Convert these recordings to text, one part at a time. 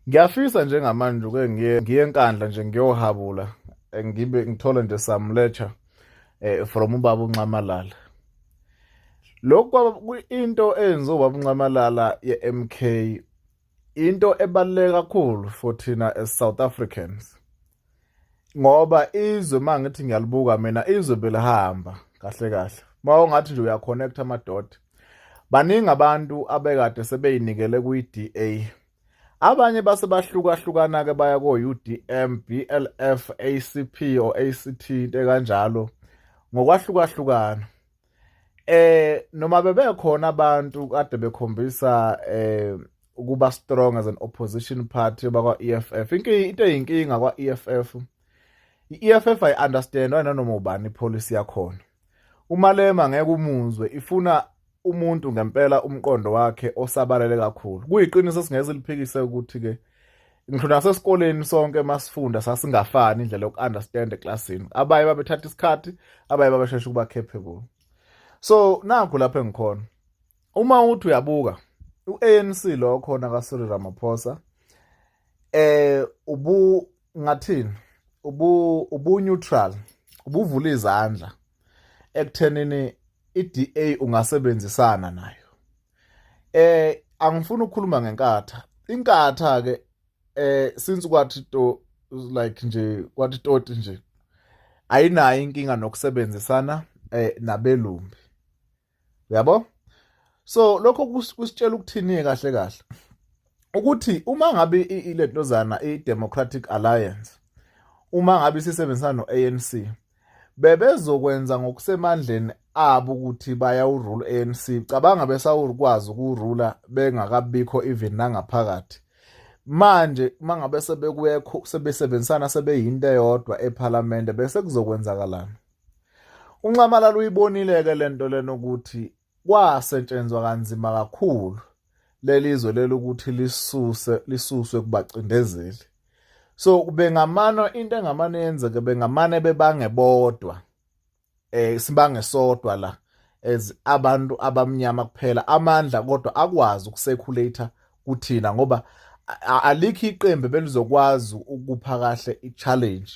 ngiyafisa njengamanje uke ngiye ngiye enkandla nje ngiyohabula eh, ngibe ngithole nje samletha eh from ubaba unxamalala lokho into enziwa ubaba unxamalala yeMK into ebaluleke kakhulu for thina as South Africans ngoba izwe mangithi ngiyalibuka mina izwe belihamba kahle kahle mawungathi nje uyaconnect amadoda baningi abantu abekade sebeyinikele kwi-DA abanye base bahlukahlukana ke baya ko-UDM BLF ACP or ACT into kanjalo ngokwahlukahlukana eh noma bebekhona abantu kade bekhombisa eh ukuba strong as an opposition party bakwa EFF inkingi into eyinkinga kwa EFF i-EFF i understand wena noma ubani policy yakhona umalema ngeke umuzwe ifuna umuntu ngempela umqondo wakhe osabalele kakhulu kuyiqiniso singeze liphikise ukuthi ke ngisho nasesikoleni sonke masifunda sasingafani indlela yoku-understand eklasini abaye babethatha isikhathi abaye babeshesha ukuba capable so nakho lapho engikhona uma uthi uyabuka u-anc lo khona kasiri ramaphosa eh ubu ngathini ubu ubuneutral ubuvula izandla ekuthenini i-DA ungasebenzisana nayo eh angifuni ukukhuluma ngenkatha inkatha ke eh since kwathi to like nje kwathi toti nje ayinayo inkinga nokusebenzisana eh nabelumbi uyabo so lokho kusitshela ukuthini kahle kahle ukuthi uma ngabe ilentozana i-democratic alliance uma ngabe sisebenzisana no-anc bebezokwenza ngokusemandleni abo ukuthi bayawurula ANC cabanga besawukwazi ukurula bengakabikho even nangaphakathi manje mangabe sebekuyekho sebesebenzisana sebeyinto eyodwa ephalamende bese kuzokwenzakalana unxamalala uyibonile ke lento lenokuthi kwasetshenzwa kanzima kakhulu lelizwe lelokuthi lisuse lisuswe kubacindezeli so bengamano into engamane yenzeke bengamane bebange bodwa eh sibange sodwa la as abantu abamnyama kuphela amandla kodwa akwazi ukusekhulator kuthina ngoba alikho iqembu belizokwazi ukupha kahle i-challenge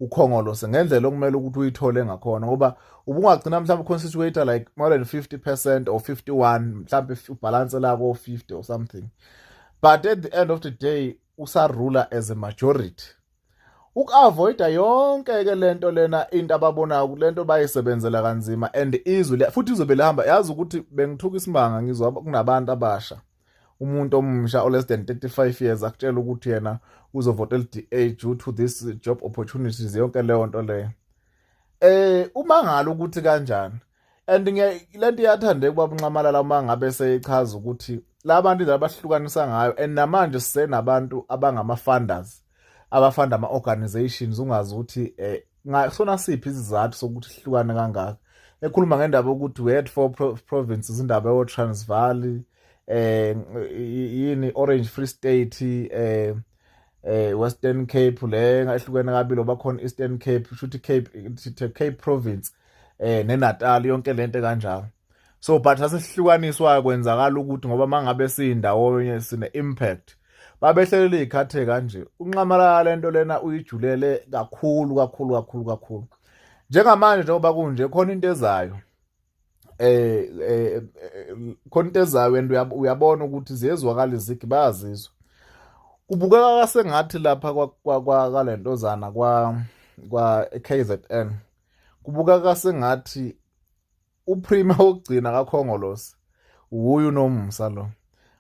ukhongolose ngendlela okumele ukuthi uyithole ngakhona ngoba ubungagcina mhlawumbe uconstituator like more than 50 percent or 51 mhlawumbe ubhalanse lako 50 or something but at the end of the day usarula as a majority uku-avoida yonke-ke le nto lena into ababonayo ukuthi le nto bayisebenzela kanzima and izwe futhi izobe lihamba yazi ukuthi bengithuka isimanga ngizwa kunabantu abasha umuntu omusha o-less than 35 years akutshela ukuthi yena uzovota elida due to this job opportunities yonke leyo nto leyo eh uma ngalo ukuthi kanjani and lento iyathandeka ubaba unxamalala uma ngabe seyichaza ukuthi labantu indlela abahlukanisa ngayo and namanje sisenabantu abangama-funders abafanda ama organizations ungazi ukuthi eh ngasona siphi isizathu sokuthi sihlukane kangaka ekhuluma ngendaba ukuthi we had four provinces indaba yo Transvaal eh yini Orange Free State eh eh Western Cape le ngahlukene kabili obakhona Eastern Cape futhi Cape Cape province eh neNatal yonke lento kanjalo so but sasihlukaniswayo kwenzakala ukuthi ngoba mangabe siyindawonye sine impact babehlelele ikhathe kanje unxamalala lento lena uyijulele kakhulu kakhulu kakhulu kakhulu njengamanje njengoba kunje khona into ezayo eh, eh khona into ezayo and uyabona ukuthi ziyezwakala izigi bayazizwa kubukeka kasengathi lapha kwalentozana kwa kwa KZN kubukeka kasengathi uprima wokugcina kakhongolosi wuye unomsa lo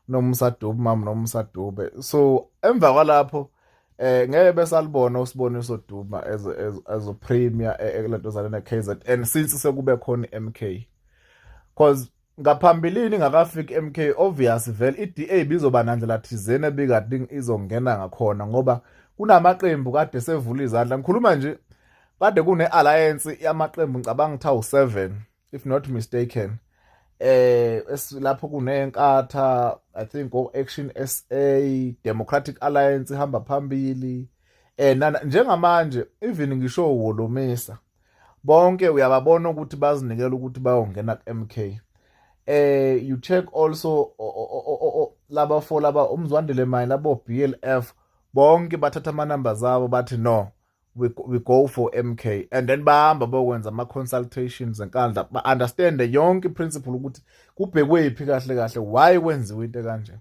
nomsa dube mama nomsa dube so emva kwalapho eh ngeke besalibona usiboniso duma as as a premier eh, eh, kulento zale ne KZN since sekube khona iMK because ngaphambilini ngakafiki iMK obvious vele iDA bizoba nandlela thizeni ebikade izongena ngakhona ngoba kunamaqembu kade sevula izandla ngikhuluma nje kade kune-alliance yamaqembu ngicabanga ukuthi awu-seven if not mistaken eh lapho kunenkatha i think o-action s a democratic alliance ihamba phambili eh nana njengamanje even ngisho wolomisa bonke uyababona ukuthi bazinikela ukuthi bayongena ku-mk eh you check also laba fo laba umzwandile mine labo BLF bonke bathatha amanamba zabo bathi no we, we go for MK and then bahamba bokwenza ama consultations enkandla ba understand yonke principle ukuthi kubhekwe iphi kahle kahle why kwenziwe into kanje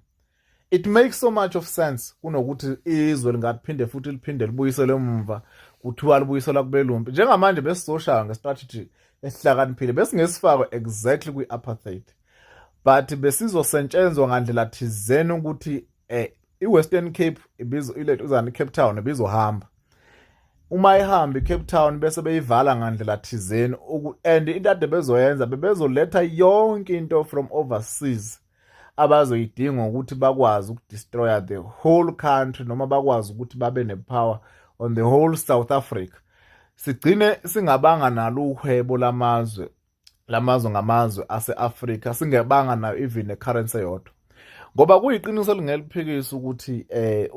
it makes so much of sense kunokuthi izwe lingaphinde futhi liphinde libuyisele umva kuthiwa libuyisela kubelumpi njengamanje besizoshaya ngestrategy esihlakaniphile besingesifakwe exactly kwi-apartheid but besizosentshenzwa ngandlela thizeni ukuthi eh, iWestern Cape ibizo ilethu uzana iCape Town ibizohamba uma ihamba iCape Town bese beyivala ngandlela thizeni and into ade bezoyenza bebezoletha yonke into from overseas abazoyidinga ukuthi bakwazi ukudestroya the whole country noma bakwazi ukuthi babe nepower on the whole South Africa sigcine singabanga nalo uhwebo lamazwe lamazwe ngamazwe ase-Afrika singebanga nayo even necurrency yodwa ngoba kuyiqiniso elingeliphikisa ukuthi eh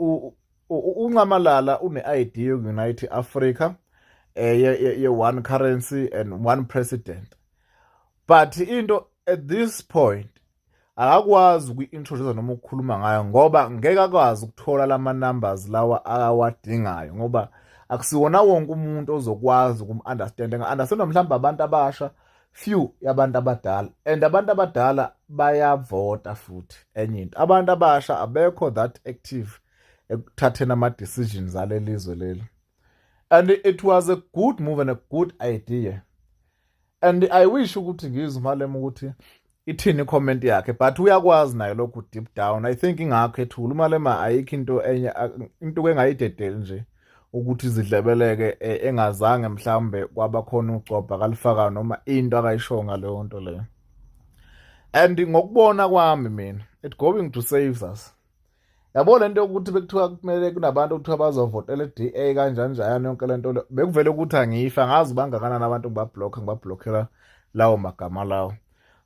uncamalala une-ID yokunite Africa eh ye one currency and one president but into at this point akakwazi ukuyintroduce noma ukukhuluma ngayo ngoba ngeke akwazi ukuthola lama numbers lawa awadingayo ngoba akusiwona wonke umuntu ozokwazi ukum-understand nga-understandwa mhlawumbe abantu abasha few yabantu abadala and abantu abadala bayavota futhi enye into abantu abasha abekho that active ekuthatheni ama-decisions alelizwe leli and it was a good move and a good idea and i wish ukuthi ngizwe umalema ukuthi ithini comment yakhe but uyakwazi naye lokhu deep down i think ingakho ethula umalema ayikho into enye into engayidedeli nje ukuthi zidlebeleke e, engazange mhlawumbe kwabakhona ugcobha kalifaka noma into akayishoyo ngaleyo nto leyo and ngokubona kwami mina it going to save us yabo le nto yokuthi bekuthiwa kumele kunabantu okuthiwa bazovotela i-DA kanjani njayana yonke le nto bekuvele ukuthi angifa ngazi bangakanani abantu ngibabhlokha ngibabhlokhela lawo magama lawo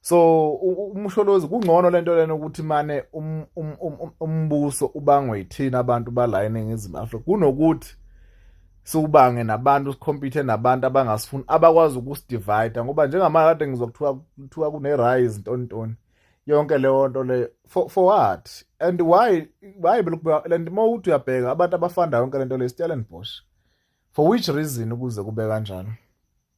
so umsholozi kungcono le nto lena ukuthi mane um, um, um, umbuso ubangwe yithina abantu bala eningizimu afrika kunokuthi siwubange nabantu sikhompyuthe nabantu abangasifuni abakwazi ukusidivida ngoba njengamanje kade ngizwa kuthiwa kune-rise ntoni ntoni yonke leyo nto leyo for, for what and why why belokubeka and uma uthi uyabheka abantu abafanda yonke le nto leyo stellenbosch for which reason ukuze kube kanjani